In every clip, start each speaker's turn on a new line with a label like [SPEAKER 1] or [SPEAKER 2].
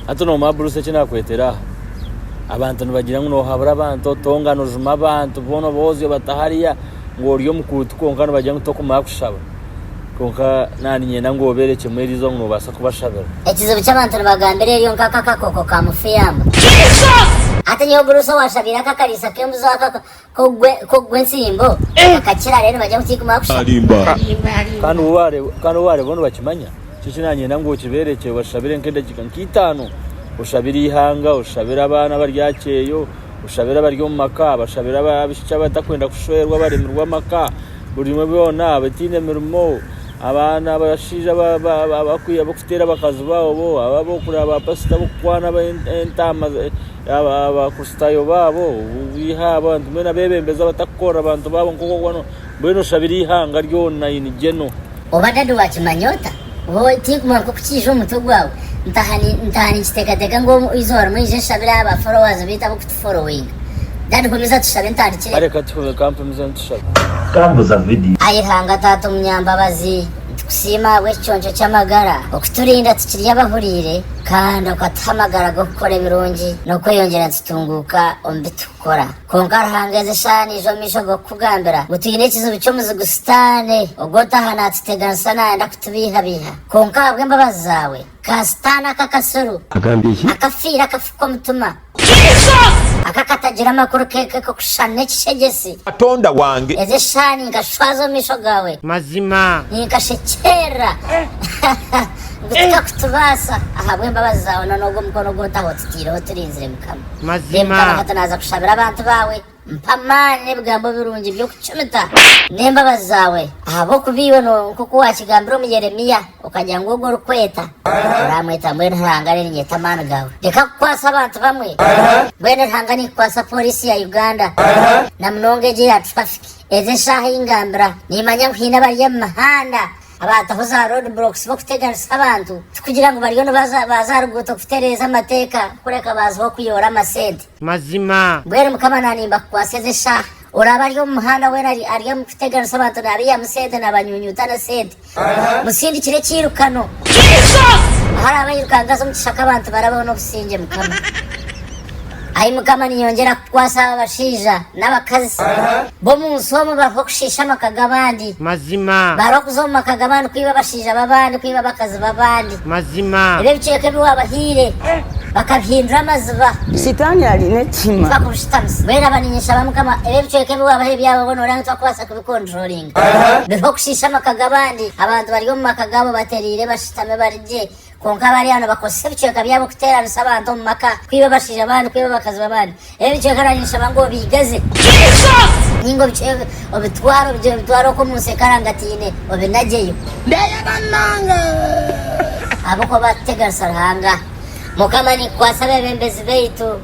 [SPEAKER 1] Hati nomuha aburusa eki nakwetera aha abantu nibagira ngu nohabura abantu otonga nojuma abantu bona obozi obata hariya ngu ori omukuutu kwonka nibagira ngu tokumara kushaba kwonka nandi nyenda ngu obere kimwe eriizooba ngu nobasa kubashabira. Ekizibu ky'abantu
[SPEAKER 2] nibagambira eryo nka akakoko ka mufuyamba. Hati nyowe burusa owashabiire akakariisa k'embuzi ako Kogwe ensimbo bakakira rero nibajya kukiguma kusha.
[SPEAKER 1] Kandi obu bareeba nibakimanya. Nikyo ki nanyenda ngu okiberekye obashabire nka edakika nka itano oshabire ihanga, oshabire abaana abari aha kyeyo, oshabire abari omu maka, abashabire abishiki abatakwenda kushwerwa abaremirwe amaka, buri omwe byona abataine mirimo. Abaana abashaija abarikuteera abakazi baabo, abo abarikureeba baapasita abarikukwana entaama, abo Abakristaayo baabo, mbwenu abeebembezi abarikukorera abantu baabo nk'oku boona, mbwenu oshabire eihanga ryona in general. Oba dadi
[SPEAKER 2] waakimanya ota? Hoo, tiikumuha nk'oku kiija omu mutwe gwaawe. Ntaaha ninkiteekateeka ngu eizooba rimwe aije nshabire aha ba followers baitu ab'oku. Following. Dad komeza tushabe ntandikire. Kare katuhure kampimize
[SPEAKER 1] nitushabe. Kambuza
[SPEAKER 3] video. Ai Ruhanga Taata
[SPEAKER 2] Omunyambabazi, nitukusiima ahabw'ekiconco ky'amagara okuturinda tukiri abahuriire kandi okatuha amagara g'okukora ebirungi n'okweyongyera nitutunguuka omu bi turikukora. Kwonka Ruhanga ezi eshaaha naija omu maisho g'okukugambira ngu twine ekizibu ky'omuzigu Sitaane ogwo otaaha naatuteganisa naayenda kutubeihabeiha. Kwonka ahabw'embabazi zaawe, ka Sitaane aka akasiru, akafiire
[SPEAKER 3] akafuka
[SPEAKER 2] omutima, Aka katagira amakuru keke k'okushushana n'ekishegyesi. Katonda wange.
[SPEAKER 4] Ezi eshaaha ninkashwaza
[SPEAKER 2] omu maisho gaawe. Mazima.
[SPEAKER 5] Ninkashekyerera.
[SPEAKER 2] Ngu tikakutubaasa. Ahabw'embabazi zaawe n'onoogwo mukono ogu otaho otitaireho turinzire Mukama. Mazima. Mukama Kato
[SPEAKER 5] naaza kushabira
[SPEAKER 2] abantu baawe. Mpa amaani n'ebigambo birungi by'okucumita n'embabazi zaawe, ahabw'okuba iwe nooba nk'oku waakigambire omu Yeremia, okagira ngu ogwo orikweta oraamweta mbwenu Ruhanga areerinyeta amaani gaawe. Reka kukwatsa abantu bamwe. Mbwenu Ruhanga ninkikwaatsa pooriisi ya Uganda na munonga egyo eya traffic. Ezi eshaaha ei ngambira, niimanya ngu haine abari omu mihanda abaataho za road blocks b'okuteganisa abantu, tikugira ngu bariyo nibaza baaza aha ruguuto kutereeza amateeka kureka baazaho kuyoora amasente. Mazima. Mbwenu
[SPEAKER 5] Mukama naanimba
[SPEAKER 2] kukwatsa ezi eshaaha. Oraabe ari omu muhanda weena ari ari omu kuteganisa abantu naabaihamu sente naabanyunyuuta n'esente. Musindikire ekiirukano. Ahu araabe airuka angaze omu kishaka abantu barabeho n'obusingye Mukama. Ai Mukama ninyongyera kukukwatsa aba abashaija n'abakazi b'omu nsi omu baruho kushiisha amaka g'abandi. Mazima. Baruho
[SPEAKER 5] kuza omu maka g'abandi
[SPEAKER 2] kwiba abashaija b'abandi kwiba abakazi b'abandi. Mazima. Ebi
[SPEAKER 5] ebicweka ebi
[SPEAKER 2] waabahaire bakabihindura amaziba. Sitaani ari
[SPEAKER 6] n'ekihima. Tibakubushitamisa. Mbwenu aba
[SPEAKER 2] ninyeshaba Mukama ebi ebicweka ebi waabahaire byaba boona oranga tibakubaasa kubikonturoringa. Biha okushiisha amaka g'abandi. Abantu bari omu maka gaabo batereire bashutame bari gye, kwonka abari aho nibakozesa ebicweka byabo kuteeranisa abantu omu maka, kwiba abashaija b'abandi, kwiba abakazi b'abandi. Ebice nkana ninshaba ngu obigaze. Jesus! Ninga obice obitware obigire obitware okwo omu nsi ekarangataine obinagyeyo. Ndeyaba nanga. Ahabw'okuba tuteganisa Ruhanga. Mukama ninkukwatsa abebembezi baitu.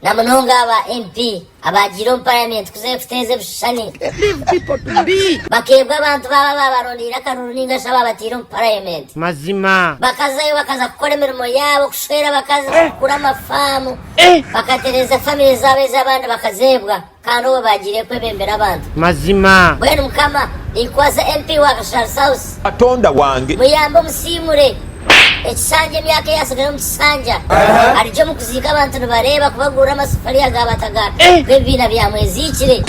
[SPEAKER 2] Na munonga aba MP abaagiire omu parliament kuza erikuteeza ebishushani. Leave people
[SPEAKER 6] to be. Bakeebwa abantu baabo
[SPEAKER 2] abaabarondeire akaruru ninga shi abaabataire omu parliament. Mazima.
[SPEAKER 5] Bakazayo bakaza
[SPEAKER 2] kukora emirimo yaabo, kushwera abakazi, kugura amafaamu. Bakatereza famire zaabo ezi abandi bakazeebwa kandi obwe baagiire kwebembera abantu. Mazima. Mbwenu
[SPEAKER 5] mukama
[SPEAKER 2] ninkwaza MP wa Gashaaru South. Katonda wange.
[SPEAKER 4] Muyambe omusiimure.
[SPEAKER 2] Ekishanja emyaka eyatsigara omu kishanja arigye omu kuziika abantu nibareeba kubagurira amasefuriya ga bataga b'ebibiina bya mweziikire.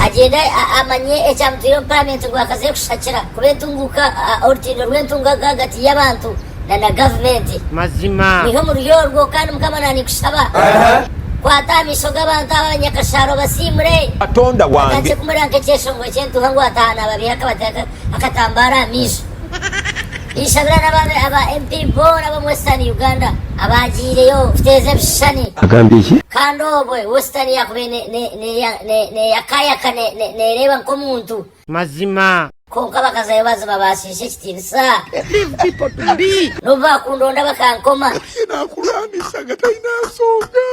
[SPEAKER 2] Agyende amanye ekyamutwire omu paramenti ngu akaze kushakira kuba entunguka orutindo rw'entunguka ahagati y'abantu. na na gavumenti. Mazima. Mwiha
[SPEAKER 5] omuri orwo
[SPEAKER 2] kandi mukama nanikushaba kwata aha maisho gabantu abo abanyakashaaro obasiimure. Katonda wange. Bakakye
[SPEAKER 4] kumureba nkekyeshongoro
[SPEAKER 2] kyentuuha ngu ataaha nababiiha akabateeka akatambaara aha maisho. Ninshabira nabo aba MP boona bomu western Uganda abaagiireyo kuteeza ebishushani. Agambye ki? Kandi
[SPEAKER 3] obwe western
[SPEAKER 2] yakubaire neyakayaka nereeba nkomuntu. Mazima.
[SPEAKER 5] Kwonka bakazayo
[SPEAKER 2] baziba baashiisha ekitiinisa.
[SPEAKER 6] N'obu baakundonda
[SPEAKER 2] bakankoma.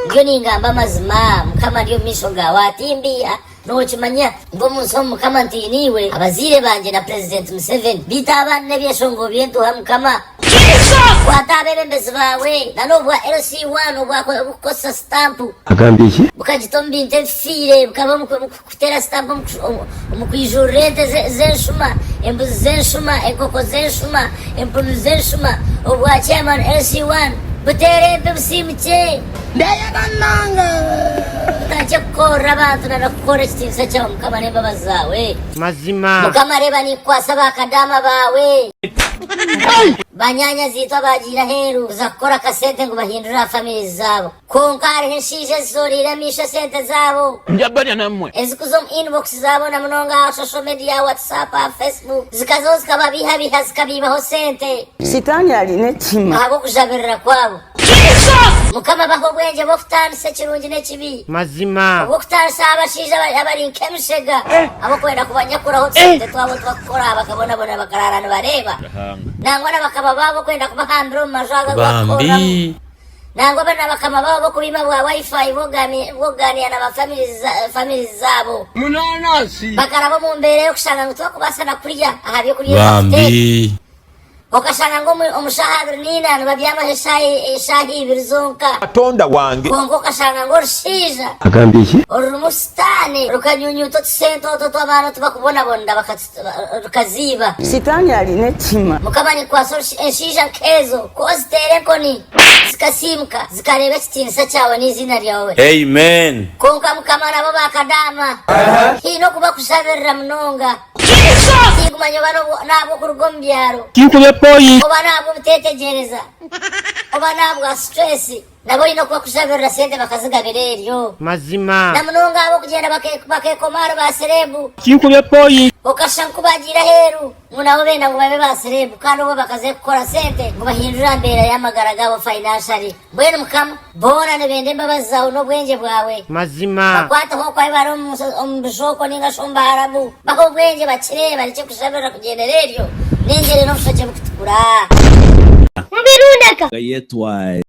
[SPEAKER 4] Ndiyo ningamba
[SPEAKER 2] amazima, Mukama, ndi omu maisho gaawe aha timbi. Nookimanya ngu omu nsi omu Mukama ntiine iwe, abazaire bangye na Purezidenti Museveni. Beitu abandi n'ebyeshongo by'entuha, Mukama. Kwata abeebembezi baawe, na n'obwa LC One obwakozesa sitampu. Bukagita
[SPEAKER 3] omu bintu
[SPEAKER 2] ebifiire, bukaba omu. Kuteera sitampu omu kwijuurira ente z'enshuma, embuzi z'enshuma, enkoko z'enshuma, empunu z'enshuma, obwa Chairman LC1 buteera empi busiimukye. Ndeye banange tutandikye kukorra abantu na nokukorra ekitiinisa kyawe mukama n'embabazi zawe. Mazima. Mukama
[SPEAKER 5] reeba ninkukwasa
[SPEAKER 2] ba kadaama baawe. Banyaanya ziitwe abaagiire aheeru kuza kukora akasente ngu bahindure aha families zaabo. Kwonka hariho enshaija ezishoreire amaisho esente zaabo. Ndya barya namwe.
[SPEAKER 4] Ezikuza omu inbox
[SPEAKER 2] zaabo na munonga aha social media, WhatsApp, aha Facebook, zikazaho zikababiihabiiha zikabiibaho sente. Sitaani ari
[SPEAKER 6] n'ekihiima. Ahabw'okujabirira kwaabo.
[SPEAKER 2] Jesus! Mukama baha obwengye bw'okutaanisa ekirungi n'ekibi. Mazima. Obw'okutaanisa
[SPEAKER 5] aha bashaija
[SPEAKER 2] abari abari nk'emishega ab'okwenda kubanyakuraho tusente twabo otu bakukora bakabonabona bakaraara nibareeba. Ruhanga. Nangwa na bakaba baabo okwenda kubahambira omu maju ago agu bakukoreramu. Bambi. Nangwa banabakama baabo b'okubima bwa Wi-Fi b'okugaaniira na ba famirizi zaabo bakaraba omu mbeera y'okushanga ngu tibakubaasa na kurya aha by'okurya ebi bafite. Okashanga ngu omu shaaha abiri naina nibabyamaho eshaaha ibiri zonka. Kwonka
[SPEAKER 4] okashanga ngu
[SPEAKER 2] orushaija
[SPEAKER 3] orurimu Sitaane
[SPEAKER 2] rukanyunyuuta otusente otwo otu abaana otu bakubonabonera. rukaziiba. Sitaani ari
[SPEAKER 6] n'ekihima. Mukama nikwasa
[SPEAKER 2] enshaija nk'ezo ku oziteera enkoni zikasiimuka zikareeba ekitiinisa kyawe n'eiziina ryawe. Amen.
[SPEAKER 1] Kwonka mukama nabo
[SPEAKER 2] ba kadaama haine oku bakushabirira munonga. Tigumanya oba n'ahabw'okuruga omu byaro, oba
[SPEAKER 5] n'ahabw'obuteetegyereza,
[SPEAKER 2] oba n'ahabwa situreesi. Nabo oine okubakujabirira sente bakazigabira eryo. Mazima. Na munonga
[SPEAKER 5] ahabw'okugyenda
[SPEAKER 2] bakekoma ahari ba sereebu. Kinkubye point.
[SPEAKER 5] Okashusha nku baagiire
[SPEAKER 2] aheeru ngu nabo benda ngu babe ba sereebu kandi obwo bakaze kukora sente ngu bahindure aha mbeera y'amagara gaabo financially. Mbwenu Mukama. Boona nibenda embabazi zaawe n'obwengye bwawe. Mazima. Bakwateho
[SPEAKER 5] okwayo bari
[SPEAKER 2] omu omu bijooko ninga shi omu baharabu. Bahe obwengye bakire barekye kujabirira kugyendera eryo. N'engyere n'obushokye bukutukura. Mubirunde ka. Gayetwae.